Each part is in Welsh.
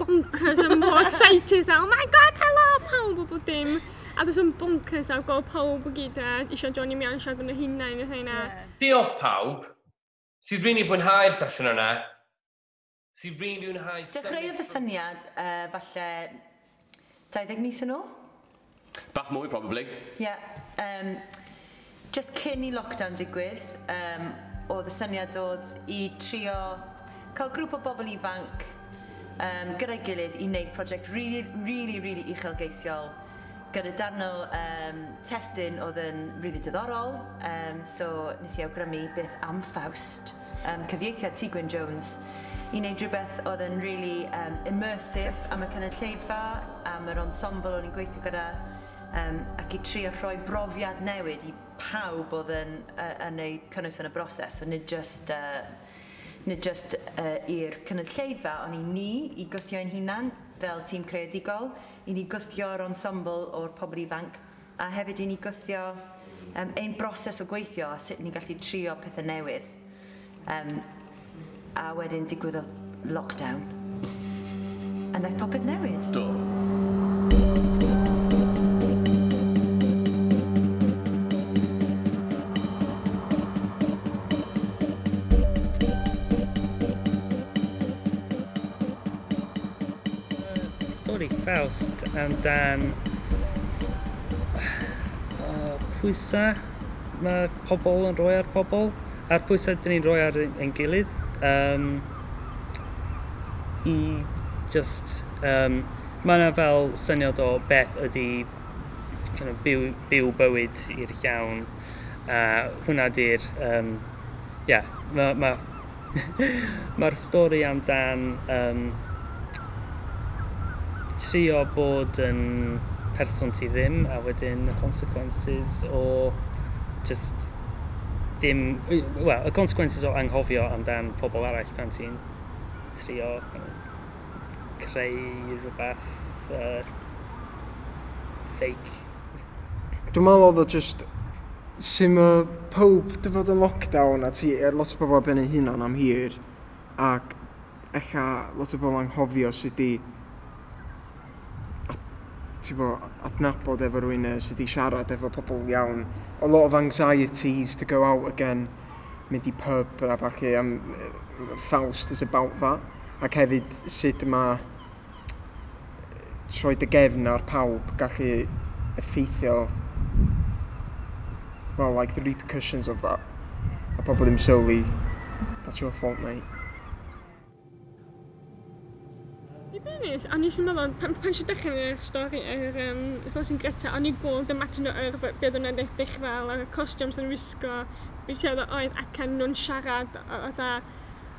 bonkers a mor excited a oh my god helo pawb a bob dim a jyst yn bonkers a gweld pawb i gyd a eisiau Johnny Meow eisiau gwneud hynna neu hynna. Diolch pawb sydd rili fwynhau'r sesiwn yna, sydd rili fwynhau... Dechreuodd y syniad yy falle 20 mis yn ôl? Bach mwy probably. Ie, yym, jyst cyn i lockdown digwydd, yym, o'dd y syniad o'dd i trio ca'l grŵp o bobl ifanc yym gyda'i gilydd i neud project rili rili rili uchelgeisiol gyda darn o yym testun o'dd yn rili diddorol, yym, so nes i awgrymu beth am Faust? um, cyfieithiad Ti Gwyn Jones i wneud rhywbeth oedd yn really um, immersive am y cynulleidfa, am yr ensemble o'n i'n gweithio gyda, um, ac i trio rhoi brofiad newid i pawb oedd yn, uh, yn eu cynnwys yn y broses, so nid just, uh, nid just uh, i'r cynulleidfa, ond i ni, i gwthio ein hunan fel tîm creadigol, i ni gwthio'r ensemble o'r pobl ifanc, A hefyd i ni gwthio um, ein broses o gweithio a sut ni'n gallu trio pethau newydd. Um, a wedyn digwyddodd lockdown. A wnaeth popeth newid. Do. Stori Faust amdan uh, pwysau mae pobl yn rhoi ar pobl, a'r pwysau dyn ni'n rhoi ar ein gilydd. Um, I just... Um, mae yna fel syniad o beth ydy kind of, byw, byw bywyd i'r llawn. A hwnna di'r... Um, yeah, mae ma Mae'r stori am dan um, trio bod yn person ti ddim a wedyn y consequences o just dim... Wel, y consequences o anghofio amdan pobl arall pan ti'n trio kind of, creu rhywbeth uh, fake. dwi'n meddwl oedd o jyst sy'n ma pawb dy fod yn lockdown a ti er lot o bobl ben ei hunan am hir ac ella lot o bobl anghofio sut i ti fo adnabod efo rwy'n e, sut i siarad efo pobl iawn. A lot of anxieties to go out again, mynd i pub a falle am ffawst is about that. Ac hefyd sut mae troi dy gefn ar pawb gallu effeithio well like the repercussions of that a pobl ddim sylwi that's your fault mate Dibynus, a nes i'n meddwl, pan, pan si dechrau yn eich stori ar yr um, Frosin Greta, o'n i gweld dy matin o yrfa, beth o'n edrych eich fel, a'r costiwms yn wisgo, beth oedd oedd ac yn nhw'n siarad, oedd a,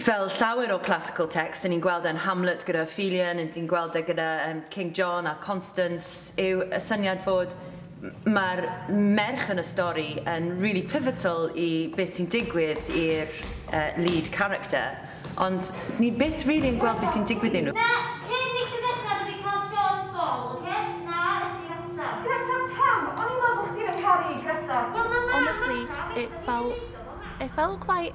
Fel llawer o classical text, yn ni'n gweld e'n Hamlet gyda Ophelia, yn ni'n gweld e gyda um, King John a Constance, yw y syniad fod mae'r merch yn y stori yn really pivotal i beth sy'n digwydd i'r uh, lead character, ond ni byth really yn gweld beth sy'n digwydd i nhw. honestly, it felt, it felt quite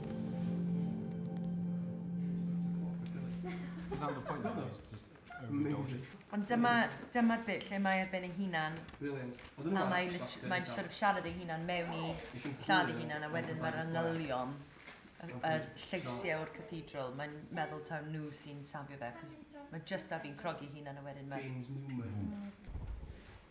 Ond dyma, dyma'r bit lle mae ar ben ei hunan a mae lit- mae'n sort of siarad ei hunan mewn i lladd ei hunan a wedyn mae'r manylion yr yy lleisiau o'r cathedral mae'n meddwl taw nhw sy'n safio fe achos mae jyst ar fin crogi ei hunan a wedyn mae...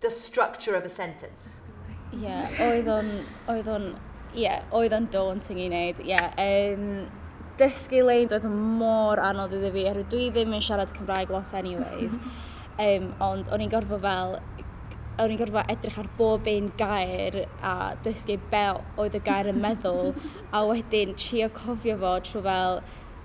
The structure of a sentence. Ie, yeah, oedd o'n, oedd o'n, ie, yeah, oedd o'n daunting i wneud, ie. Yeah. Um, dysgu leins oedd mor anodd iddi fi, oherwydd dwi ddim yn siarad Cymraeg lot anyways. um, ond o'n i'n gorfod fel o'n i'n gorfod edrych ar bob un gair a dysgu be oedd y gair yn meddwl a wedyn trio cofio fo trwy fel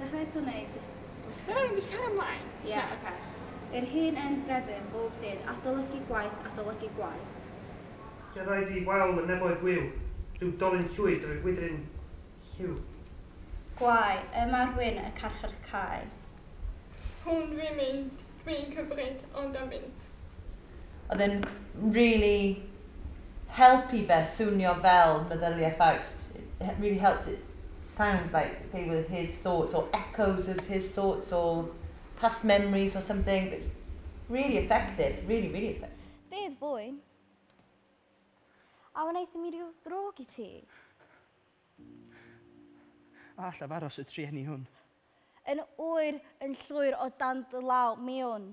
Dechrau eto neu jyst gweithio? Fedra i jyst cario mlaen? Ie, oce. I'r hen end Grefydd, bob dydd, adolygu gwaith, adolygu gwaith. Lle ddau di wal y neboedd gwiw, rhyw dolyn llwyd drwy wydryn lliw. Gwae, y mae'r wyn y carchar cae. Hwn dwi'n mynd, dwi'n cymryd, ond am mynd. Oedd e'n really help i fe swnio fel meddyliau Faust. It really helped it sound like they were his thoughts or echoes of his thoughts or past memories or something. But really effective, really, really effective. Bydd fwyn. A wnaethon ni ryw ddrwg i ti? A allaf aros y trueni hwn? Yn oer, yn llwyr o dan dy law, mewn.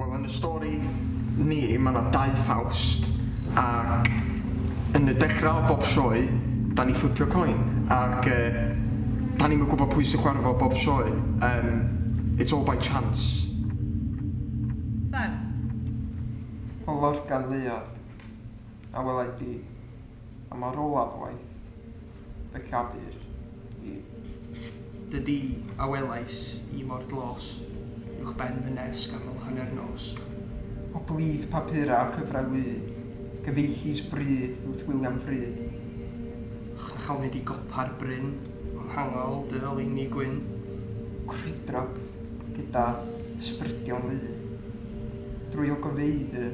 Wel yn y stori ni ma' 'na dau Ffawst ac yn y dechra o bob sioe 'dan ni fflipio coin ac yy 'dan ni'm yn gwbo pwy sy'n chwara fo bob sioe yym it's all by chance. Ffaust. O Lorcan Leuad, a welai di, a mor olaf waith. y llafur i. Dy du, a welais i mor dlos, uwch ben fy nes ganol hanner nos. O blith papura a chyfrau wy, gyfeillus bryd wrth William Fryd. Ych na chawn nid i gopa'r bryn, o nghangol dy oleuni gwyn. Crwydro gyda sbrydion lu, drwy ogofeydd y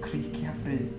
criciafryd.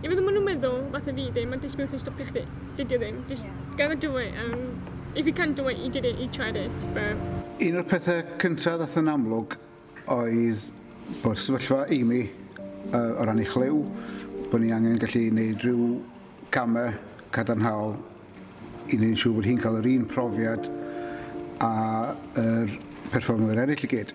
I fod yn ma' nw'n meddwl fatha fi ddim yn disgwyl chi stopio chdi. Dydi o ddim. Jyst yeah. gotta do it and if you can't do it you did it you tried it but... Un o'r pethau cyntaf ddath yn amlwg oedd bod sefyllfa Amy uh, o ran ei chlyw, bod ni angen gallu gwneud rhyw camau cadarnhaol i wneud yn siŵr bod hi'n cael yr un profiad a yr perfformwyr eraill i gyd.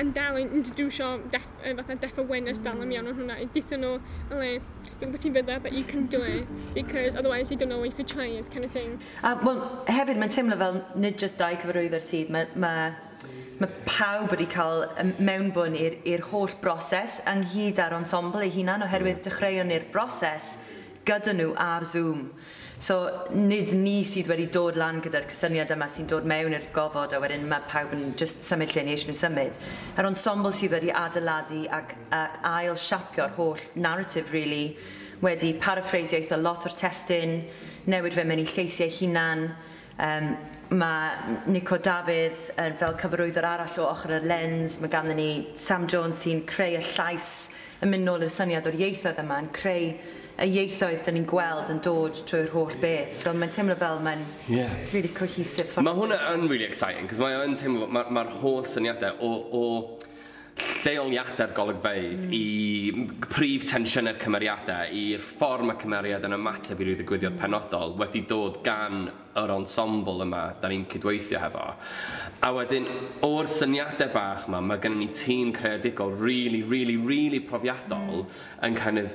yn dal yn introducio def, uh, fatha deaf awareness dal yn iawn o'n hwnna i dithio nhw yn le dwi'n gwybod ti'n fydda but you can do it because otherwise you don't know if you try it kind of thing. A wel hefyd mae'n teimlo fel nid just dau cyfarwyddwr sydd mae mae mae pawb wedi cael mewnbwn i'r holl broses ynghyd â'r ensemble ei hunan oherwydd dechreuon ni'r broses gyda nhw ar Zoom. So, nid ni sydd wedi dod lan gyda'r cysyniad yma sy'n dod mewn i'r gofod a wedyn mae pawb yn jyst symud lle ni eisiau nhw symud. Yr ensemble sydd wedi adeiladu ac ac ail siapio'r holl narrative really, wedi paraffreisio eitha lot o'r testun, newid fe mewn i lleisiau hunan, Yym, mae Nico Dafydd yn fel cyfarwyddwr arall o ochr yr lens, mae ganddyn ni Sam Jones sy'n creu y llais yn mynd nôl i'r syniad o'r ieithoedd yma, yn creu y ieithoedd 'dan ni'n gweld yn dod trwy'r holl beth, so mae'n teimlo fel mae'n... Ie. ...rili cohesive ffordd o wneud e. Mae hwnna yn rili exciting, 'c'os mae o yn teimlo, ma' ma'r holl syniadau o o lleoliadau'r golygfeydd, i prif tensiynau'r cymeriadau, i'r ffordd mae cymeriad yn ymateb i ryw ddigwyddiad penodol, wedi dod gan yr ensemble yma 'da ni'n cydweithio hefo. A wedyn, o'r syniadau bach 'ma, mae gynnon ni tîm creadigol rili, rili, rili profiadol yn kind of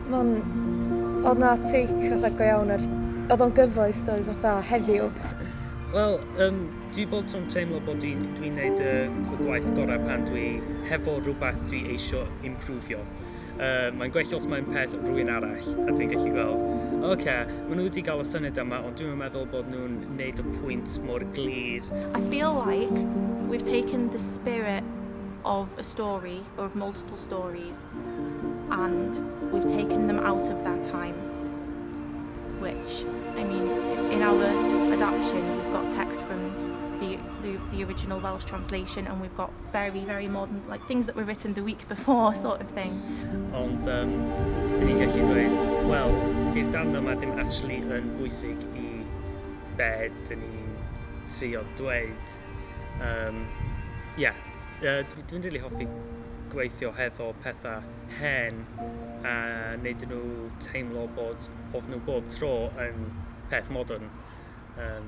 Ma'n... Odd 'na take fatha go iawn ar... Odd o'n gyfoes doedd fatha heddiw. Wel yym dwi bob tro'n teimlo bod dwi'n dwi'n neud y y gwaith gorau pan dwi hefo rhywbeth dwi eisio imprwfio. Yy mae'n gwell os mae'n peth rhywun arall a dwi'n gallu gweld ocê ma' nhw wedi gael y syniad yma ond dwi'm yn meddwl bod nhw'n neud y pwynt mor glir. I feel like we've taken the spirit of a story or of multiple stories and we've taken them out of their time, which, I mean, in our adaptation, we've got text from the, the, the original Welsh translation, and we've got very, very modern, like things that were written the week before, sort of thing. Ond, um, dyn ni'n gallu dweud, wel, di'r darn yma ddim actually yn bwysig i bed dyn ni'n trio dweud. Um, yeah. uh, dwi'n dwi really hoffi gweithio hefo pethau hen a wneud nhw teimlo bod of nhw bob tro yn peth modern. Um,